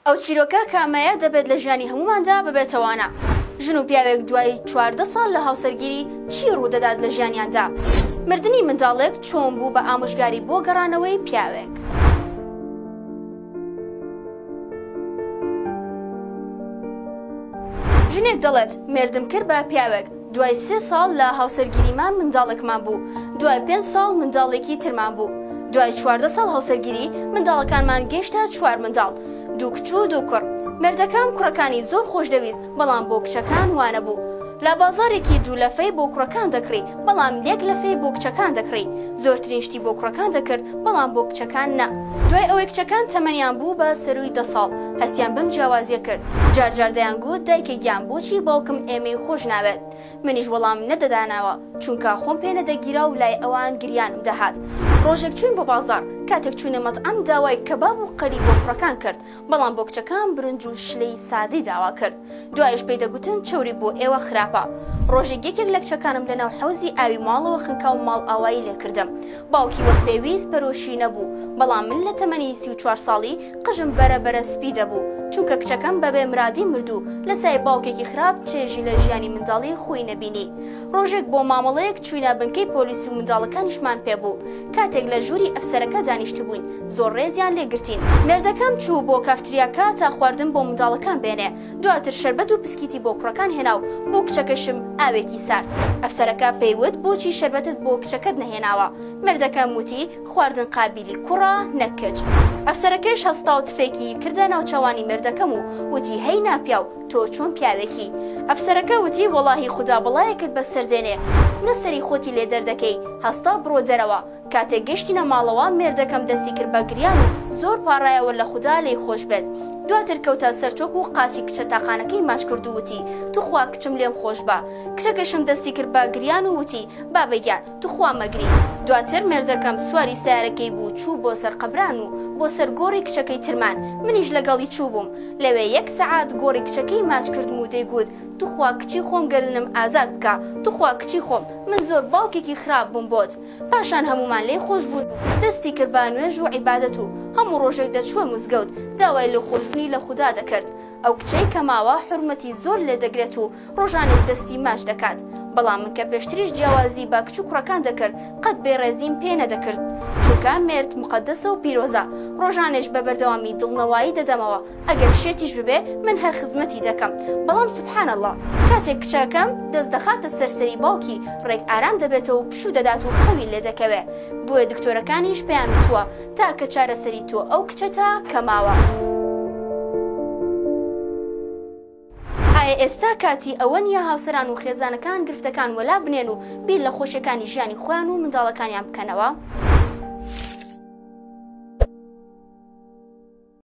ئەو چیرۆکە کامەیە دەبێت لە ژیانی هەمووماندا ببێتە وانە؟ ژن و پیاوێک دوای چواردە ساڵ لە هاوسەرگیری چی ڕوودەدات لە ژیانیاندا؟ مردنی منداڵێک چۆن بوو بە ئامۆژگاری بۆ گەڕانەوەی پیاوێک؟ ژنێک دەڵێت مێردم کرد بە پیاوێک، دوای سێ ساڵ لە هاوسەرگیریمان منداڵێکمان بوو، دوای پێنج ساڵ منداڵێکی ترمان بوو، دوای چواردە ساڵ هاوسەرگیری منداڵەکانمان گەیشتە چوار منداڵ، دوو کچ و دوو کوڕ. مێردەکەم کوڕەکانی زۆر خۆشدەویست، بەڵام بۆ کچەکان وا نەبوو. لە بازاڕێکی دوو لەفەی بۆ کوڕەکان دەکڕی، بەڵام یەک لەفەی بۆ کچەکان دەکڕی. زۆرترین شتی بۆ کوڕەکان دەکرد بەڵام بۆ کچەکان نا. دوای ئەوەی کچەکان تەمەنیان بوو بە سەرووی دە ساڵ، هەستیان بەم جیاوازییە کرد. جار جار دەیانگوت دایکە گیان بۆچی باوکم ئێمەی خۆش ناوێت؟ منیش وەڵامم نەدەدانەوە، چونکە خۆم پێ نەدەگیرا و لای ئەوان گریانم دەهات. ڕۆژێک چووین بۆ بازاڕ، کاتێک چووینە مەتعەم داوای کەباب و قەلی بۆ کوڕەکان کرد، بەڵام بۆ کچەکان برنج و شلەی سادەی داوا کرد، دوایش پێی دەگوتن چەوری بۆ ئێوە خراپە. ڕۆژێک یەکێک لە کچەکانم لەناو حەوزی ئاوی ماڵەوە خنکا و ماڵئاوایی لێ کردم. باوکی وەک پێویست پەرۆشی نەبوو، بەڵام من لە تەمەنی سی و چوار ساڵی قژم بەرە بەرە سپی دەبوو، چونکە کچەکەم بەبێ مرادی مرد و لە سایەی باوکێکی خراپ چێژی لە ژیانی منداڵی خۆی نەبینی. ڕۆژێک بۆ مامەڵەیەک چووینە بنکەی پۆلیس و منداڵەکانیشمان پێ بوو، کاتێک لە ژووری ئەفسەرەکە دانیشتبووین، زۆر ڕێزیان لێ گرتین. مێردەکەم چوو بۆ کافتریاکە تا خواردن بۆ منداڵەکان بێنێ، دواتر شەربەت و پسکیتی بۆ کوڕەکان هێنا و بۆ کچەکەشم ئاوێکی سارد. ئەفسەرەکە پێی وت بۆچی شەربەتت بۆ کچەکەت نەهێناوە؟ مێردەکەم وتی خواردن قابیلی کوڕە نەک کچ. ئەفسەرەکەیش هەستا و تفێکی کردە ناوچەوانی مێردەکەم و وتی هەی ناپیاو، تۆ چۆن پیاوێکی؟ ئەفسەرەکە وتی وەڵاهی خودا بەڵایەکت بەسەر دێنێ نە سەری خۆتی لێ دەردەکەی، هەستا بڕۆ دەرەوە، کاتێک گەشتینە ماڵەوە مێردەکەم دەستی کرد بە گریان و زۆر پاڕایەوە لە خودا لێی خۆش بێت، دواتر کەوتە سەر چۆک و قاچی کچە تاقانەکەی ماچ کرد و وتی توخوا کچم لێم خۆش بە، کچەکەشم دەستی کرد بە گریان و وتی بابەگیان، تخوا مەگری، دواتر مێردەکەم سواری سەیارەکەی بوو چوو بۆ سەر قەبران و بۆ سەر گۆڕی کچەکەی ترمان، منیش لەگەڵی چووبووم، لەوێ یەک سەعات گۆڕی کچەکەی ماچ کردم و دەیگووت توخوا کچی خۆم گەردنم ئازاد بکە، توخوا کچی خۆم، من زۆر باوکێکی خراپ بووم بۆت، پاشان هەموومان لێی خۆش بوون و دەستی کرد بە نوێژ و عیبادەت و هەموو ڕۆژێک دەچووە مزگەوت داوای لێخۆشبوونی لە خودا دەکرد، ئەو کچەی کە ماوە حورمەتی زۆر لێ دەگرێت و ڕۆژانێش دەستی ماچ دەکات، بەڵام من کە پێشتریش جیاوازی بە کچ و کوڕەکان دەکرد قەت بێڕێزیم پێ نەدەکرد، چونکە مێرد موقەدەسە و پیرۆزە، ڕۆژانێش بە بەردەوامی دڵنەوایی دەدەمەوە، ئەگەر شێتیش ببێ من هەر خزمەتی دەکەم، بەڵام سبحان اللە کاتێک کچەکەم دەست دەخاتە سەر سەری باوکی ڕێک ئارام دەبێتەوە و پشوو دەدات و خەوی لێ دەکەوێ، بۆیە دکتۆرەکانیش پێیان وتووە تاکە چارەسەری تۆ ئەو کچەتە کە ماوە. ئایا ئێستا کاتی ئەوە نییە هاوسەران و خێزانەکان گرفتەکان وەلا بنێن و بیر لە خۆشیەکانی ژیانی خۆیان و منداڵەکانیان بکەنەوە؟